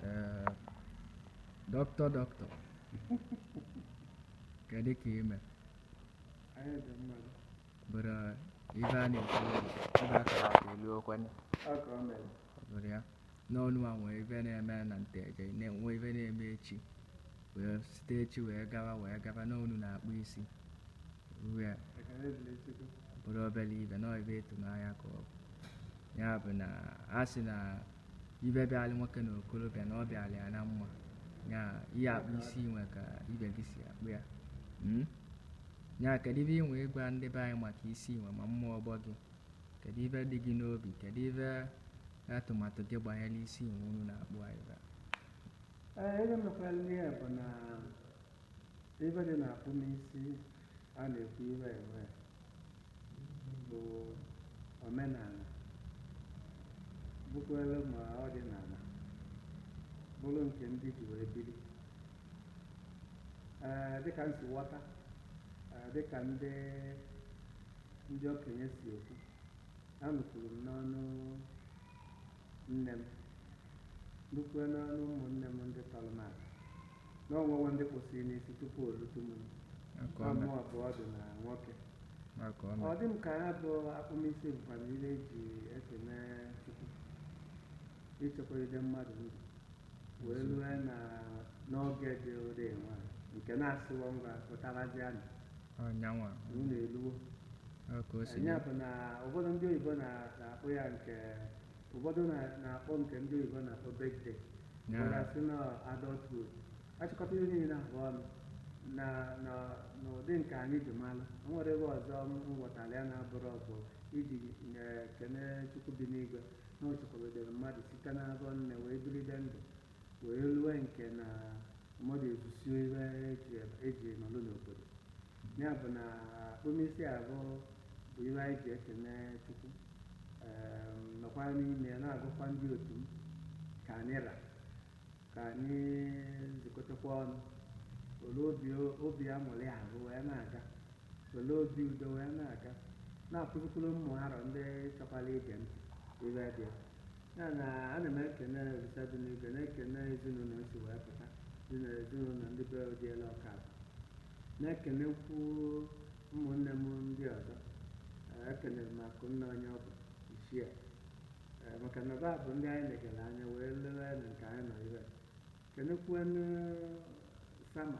Ee, doctor doctor kedu ka i me Anyị dị mma. bụrụ ife a na-ekwu ebe a kara aka elu okwenye Ọ ka ọ mere. bụrụ ya n'ọnụ a nwee ife na-eme na Nteje na-enwe ife na-eme echi wee site echi wee gawa wee gaba na unu na-akpụ isi inwe Ekele dịrị Chukwu. bụrọ obere ife na ọ ife ịtụnanya ka ọ bụ ya bụ na a sị na ife bịalị nwoke na okorobịa na ọ bịalị ya na mma ya ị ya-akpụ isi inwe ka ibe gị si akpụ ya Mm? ya kedu ife i nwe ịgwa ndị be anyị maka isi inwe ma ụmụ ọgbọ gị kedu ife dị gị n'obi kedu ife atụmatụ gị gbanyere isi inwe unu na-akpụ anyị ebe a? Ee, ihe mekwara ihe bụ na Ife dị n'akpụmisi a na-ekwu iwe ewe bụ omenala, bụkwuere ma ọdịnala, bụrụ nke ndị ji wee biri. Ee, dịka m si ghọta, ee, dịka ndị ndị okenye si ekwu, anụkwuru m n'ọnụ Nne m, nụkwue n'ọnụ ụmụnne m ndị tọrọ m aka, na o nwewo ndị kpụsịrị n'isi tupu o lute mụnwa, mụ ọ bụ ọdụ na nwoke. Ọ dị m ka ya bụ akpụmisi bụkwanụ ife e ji ekene Chukwu ichekwagide mmadụ ndụ wee rue na n'oge dị ụdị nwa nke na a sịwo ngwa pụtabazianụ ọnyanwa na unu eluwo ọ ka o si dị ya bụ na ụfọdụ ndị oyibo na- na-akpọ ya nke ụfọdụ na- na-akpọ nke ndị oyibo na-akpọ birthday Ya. ụfọdụ asị na adulthood a chịkọta ihe niile abụ ọnụ na na n'ụdị nke anyị ji malụ o nwerọ ebe ọzọ m ghọtara ya na-abụrọ bụ iji kene Chukwu bi n'igwe na o chekwabedere mmadụ site n'afọ nne wee bilide ndụ wee lue nke na mmadụ ezusie ife e ji nọlụ n'obodo ya bụ na akpụmisi abụ bụ ife anyị ji ekene Chukwu nọkwa n'ime ya na-agwakwa ndị otu m ka anyị ra ka anyị zukọtakwa ọnụ wele obi aṅụrị abụ wee na-aga wele obi udo wee na-aga na-akụzikwuru ụmụ arọ ndị chọkwara ige ntị ife dị ya na ana m ekene Olisa dị n'igwe na-ekene ezinụlọ m si wee pụta dị na ezinụlọ ndị be Odiela Ọka na-ekenekwu ụmụnne m ndị ọzọ ekenere m Akụnna onye ọ bụ ichie maka na ba bụ ndị anyị legara anya wee luwe na nke anyị nọ ire kenekwuenu Sama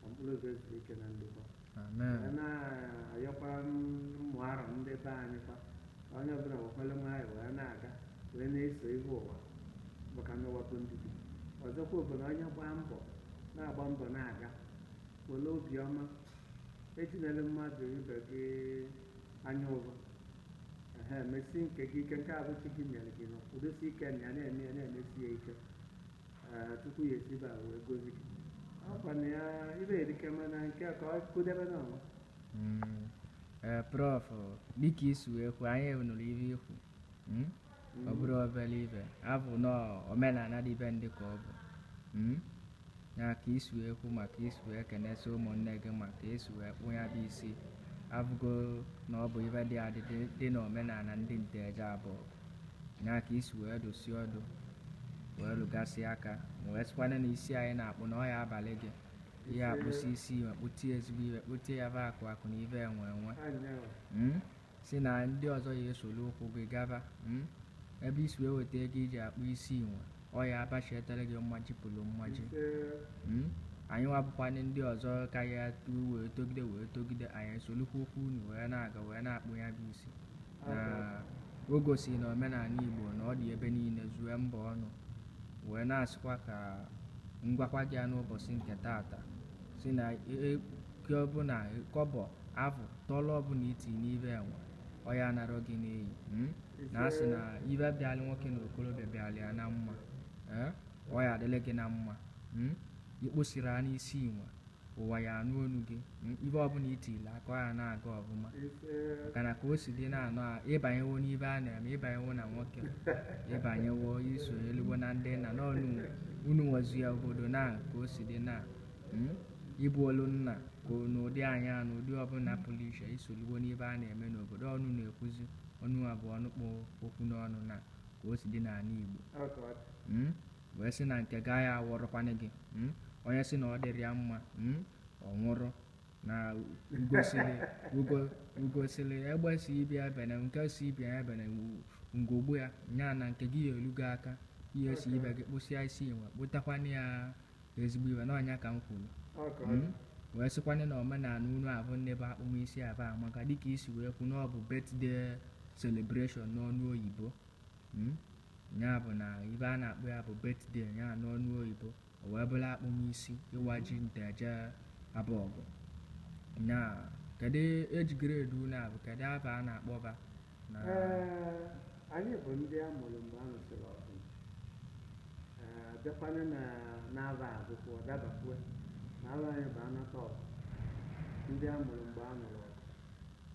ka mkpụrụ obi ya zuru ike na ndokwa Amen. wee na-ayọkwa ụmụ arọ ndị be anyị kwa ka onye ọbụla wekwalụ nwayọ wee na-aga wee na-eso ihe ụwa maka na ụwa bụ ndidi ọzọkwa bụ na onye gbaa mbọ na-agba mbọ na-aga were obiọma etinyele mmadụ ibe gị anya ụvụ ehe mesi nke gị ike nke a bụ chi gị nyere gị nọ kwudosi ike na ya na-eme ya na-emesi ya ike Ee, tupu ya esi ebe a wee gozi gị ọkwa na ya ive erike mana nke a ka ọ kụdebe na ọnwa Mm, eh, prof dịka isi wee kwu anyị nụrụ ive ikwu mm? ọ bụrọ obere ive avụ na omenala dị be ndị ka ọ bụ mm? na ka isi wee kwu maka isi wee kenesi ụmụnne gị maka isi wee kpụ ya bụ isi avụgo na ọ bụ ive dị adị dị- dị na omenala ndị Nteje Abogu na ka isi wee dụsị ọdụ wee rụgasị aka ma wee sịkwana na isi anyị na-akpụ na ọ ya abalị gị ihe akpụsị isi inwe kpụtie ezigbo ive kpụtie ya bụ akụ akụ na ive enwe enwe Mm? si na ndị ọzọ ya esoro ụkwụ gị gaba Mm? ebe isi wee weta ego iji akpụ isi inwe ọ ya abachietara gị mmaji kwuru mmaji Mm? anyị nwa bụkwanị ndị ọzọ ka ya tuo wee togide wee togide anyị esolukwa ụkwụ unu wee na-aga wee na-akpụ ya bụ isi O gosiri na omenala Igbo na ọ dị ebe niile zue mba ọnụ wee na-asịkwa ka ngwakwa gị ya n'ụbọchị nke taata si na nke ọbụla kọbọ afụ tọlọ ọbụla iti n'ive enwe ọ ya anarọ gị n'iyi mm? na asị na ive bịalị nwoke na okorobịa bịalị ya na mma eh? ọ ya adịlị gị na mma mm? ikposiri a n'isi inwe ụwa ya anụ onu gị mm, ive ọbụla itile aka ọ ya na-aga ọfụma maka na ka o si dị na-anọ a ịbanyewo n'ive a na-eme ịbanyewo na nwoke ịbanyewo isoluwo na ndị nna na ọnụ unu nwezu ya obodo na ka o si dị na mm, ịbụ olu nna ka o- n'ụdị anyị a na ụdị ọbụla pụrụ iche isoluwo n'ive a na-eme n'obodo ọnụ na-ekwuzi ọnụ a bụ ọnụ kpụ okwu n'ọnụ na ka o si dị n'ala Igbo Ọ ka ọ dị. Mm? wee sị na nke gị ya awọrọkwanị gị mm? onye sị na ọ dịrị ya mma mm? ọ bụrụ na ugo sịrị ugo ugo sịrị egbe sị ibe ya ebene nke sị ibe ya ebene u- ngogbu ya nya na nke gị ya elu gị aka ihe si ibe gị kpụsịa isi inwe kpụtakwanye ya ezigbo ive n'ọ nya ka m kwuru Ọ ka ọ dị. Mm. wee sịkwanye na omenala unu avụ nne bụ akpụmisi avụ amaka dịka isi wee kwu na ọ bụ birthday celebration n'onu oyibo Hmm? ya bụ na ibe a na-akpọ ya bụ birthday ya n'ọnụ oyibo o wee bụrụ akpụmisi ịwa ji Nteje Abogu na kedu age grade unu a bụ kedu aba a na-akpọba na Ee, anyị bụ ndị a mụrụ mgbe a nụsịrị ọgụ Ee, bịakwana na n'aba abụkwa ọdabakwue na aba anyị bụ Anataọgụ ndị a mụrụ mgbe a nụrụ ọgụ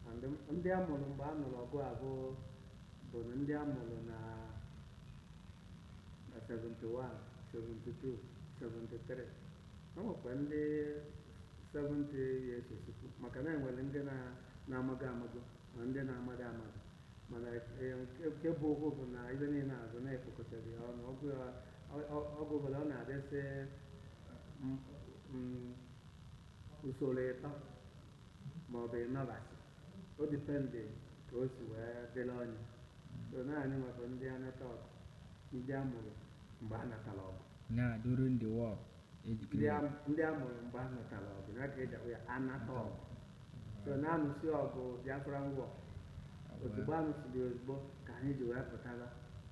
And ndị a mụrụ mgbe a nụrụ ọgụ abụ bụ na ndị a mụrụ na na 71 72 73 o nwekwa ndị 70 years o sokwu maka na e nwere ndị na- na-amago amago ma ndị na-amada amada mana eh, nke- nke bụ okwu bụ na ibe niile azụ na-ekpokọtara ya ọnụ ọgụ ya- ọ- ọ- ọgụ ọbụla ọ na-adịsị mm, mm, usoro ịtọ ma ọ bụ ịnọbasị o depend ka o si wee dịrị onye so na anyịnwa bụ ndị Anataọgụ ndị a mụrụ mgbe a natara ọgụ na during the war age ndị group a- ndị a mụrụ mgbe a natara ọgụ ya ka e ji akpọ ya Anataọgụ so na anụsị ọgụ Biafran war ozugbo anụsịrị ozugbo ka anyị ji wee pụtara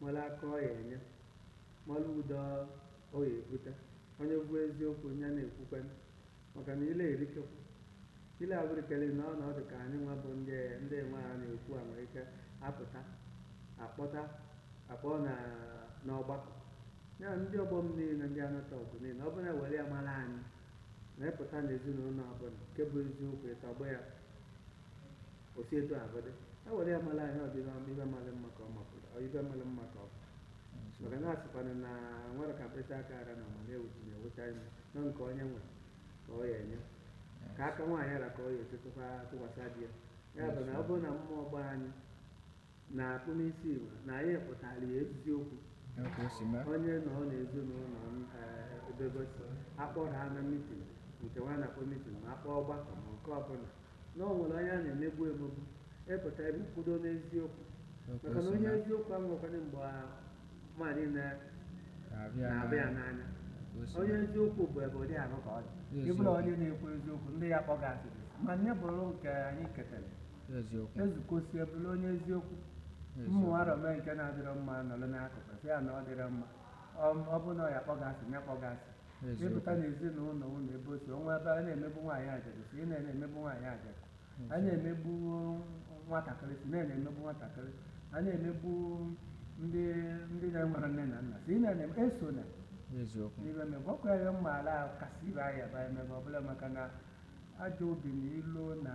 mara aka ọ ya enye, mara udo ọ ya ebute. Onye kwu eziokwu, ya na-ekwukwenu, maka na ile erikekwu. Ile abụrikeri na ọnọdụ ka anyịnwa bụ ndị ndị nwa a na-ekwu a nwere ike apụta, akpọta, akpọọ na n'ọgbakọ. Ya ndị ọgbọ m niile, ndị Anataọgụ niile, ọ bụrụ na e were ya mara anyị, na ịpụta n'ezinụlọ ọbụla, nke bụ eziokwu, ịtọgbọ ya, O si etu ahụ dị, e were ya mara anyị ọ ibe mara mma ka ọ mapụrụ, ọ ibe mara mma ka ọ bụ. Maka na a sịkwanụ na nwere ka mkpịsị aka ara na ma na-ewuchi na-ewucha ime na nke onye nwe ka ọ ya enye ka aka nwaanyị ara ka ọ ya etetụkwa tụkwasị di ya ya bụ na ọ bụrụ na ụmụ ọgbọ anyị na akpụmisi ibe na anyị pụtara ya eziokwu onye nọ n'ezinụlọ ebe o si akpọrọ ha na mitin nke nwa na-akpọ mitin ma akpọ ọgbakọ ma nke ọbụla na ọ nwere onye a na-emegbu emegbu ịpụta ebe kwudo n'eziokwu maka na onye eziokwu anwụkwana mgbe mmadụ na-abịa n'anya onye eziokwu bụ ebe ụdị ahụ ka ọ dị ị bụrụ onye na-ekwu eziokwu ndị ya kpọ gị asị ma nya bụrụ nke anyị ketara eziokwu ezukosie bụrụ onye eziokwu eziokwu mmadụ mee nke na-adịrọ mma nọrọ n'akụkụ sị ya na ọ dịrọ mma Ọ- ọ bụ na ọ ya kpọ gị asị ya kpọ gị asị Eziokwu. ịpụta n'ezinụlọ ụlọ ebe o si o nwee ebe a na-emegbu nwaanyị ajadu si ị na-emegbu nwaanyị ajadu a na-emegbu nwatakịrị si na na-emegbu nwatakịrị a na-emegbu ndị ndị na-enwerọ nne na nna si ị na-eme eso na eziokwu n'ibe emegbu ọkụ ya mma ala kasị ibe ahịa ba emegbu ọbụla maka na Ajọ obi na ilo na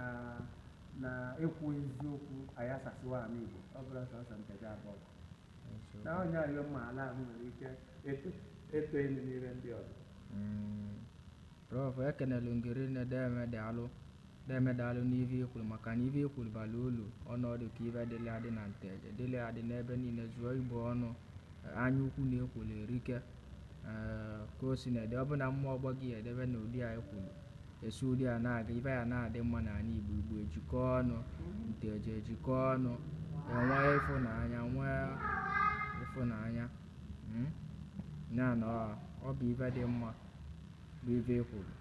na ekwu eziokwu ayasasịwo ala Igbo. Ọ bụrọ sọsọ Nteje Abọgụ. Na onye ayọ mma ala ahụ nwere ike eto eto elu n'ire ndị ọzọ. Mm, Prof, ekenelu m gị rinne deme daalụ deme daalụ n'ive i kwuru maka na ive i kwuru bara ulu ọnọdụ ka ive dịlị adị na Nteje dịlị adị n'ebe niile zuo Igbo ọnụ anya ukwu na ekwolo erike ka o si na-ede ọ bụ na mmụọ ọgbọ gị edebe na ụdị a i kwuru e si ụdị a na-aga ive ya na-adị mma n'anị Igbo Igbo ejikọọ ọnụ Nteje ejikọọ ọnụ enwee ịfụnanya nwee ịfụnanya mm? ya na ọ- ọ bụ ive dị mma bụ ive i kwuru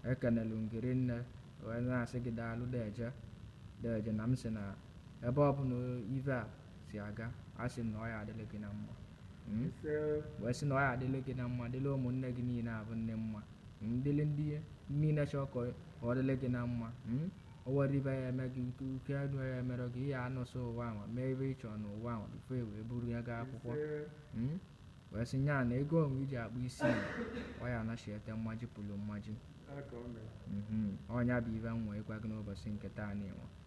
ekenelu m gị rinne wee na-asị gị daalụ deje deje na m sị na ebe ọ bụ na ive a si aga a sị m na ọ ya adịrị gị na mma Mm? ise wee sị na ọ ya adịrị gị na mma dịrị ụmụnne gị niile abụ nne mma Mm, dịrị ndị niile chọọ ka ọ- ka ọ dịrị gị na mma Mm? o nwerọ ive ya eme gị uke uke enu ya emere gị ị ya anọsị ụwa ahụ mee ive ị chọrọ n'ụwa ahụ before e wee buru ya gaa akwụkwọ ise Mm? wee sị nya na ego onwe iji akpụ isi ya, ọ ya anachiete mmaji pụrụ mmaji aka o mere Mhm. ọ nya bụ ive m nwere ịgwa gị n'ụbọchị nke taa nụwa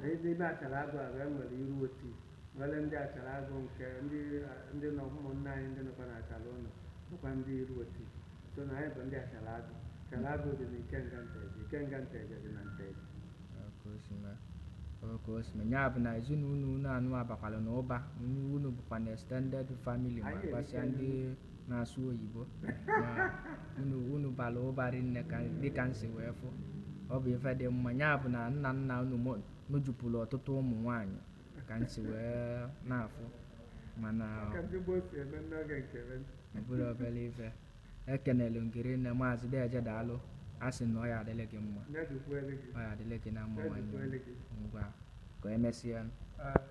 N'ime Achalla Agụ a wee nwere Iruoti nwere ndị Achalla Agụ nke ndị ndị nọ ụmụnna anyị ndị nọkwa n'Achalla Ụnọ bụkwa ndị Iruoti sọ na anyị bụ ndị Achalla Agụ Achalla Agụ dị na Ikenga Nteje Ikenga Nteje dị na Nteje ya bụ na ezinụlọ unu a nụwa abakwala n'ụba unu bụkwa na extended family ma gbasịa ndị na-asụ oyibo na unu unu bara ụba rinne ka dịka m si wee fụ ọ bụ ife dị mma ya bụ na nna nna unu nụ- nụjupụrụ ọtụtụ ụmụ nwaanyị ka m si wee na-afụ mana Ka ndị gboo si eme n'oge nke be. ọ bụrọ obere ife ekenelu m gị rinne maazị deje daalụ a sị na ọ ya adịlị gị mma Ya dịkwara gị. ọ ya adịlị gị na mma Ya nwanne dịkwara gị. m ngwa ka emesịa Ah,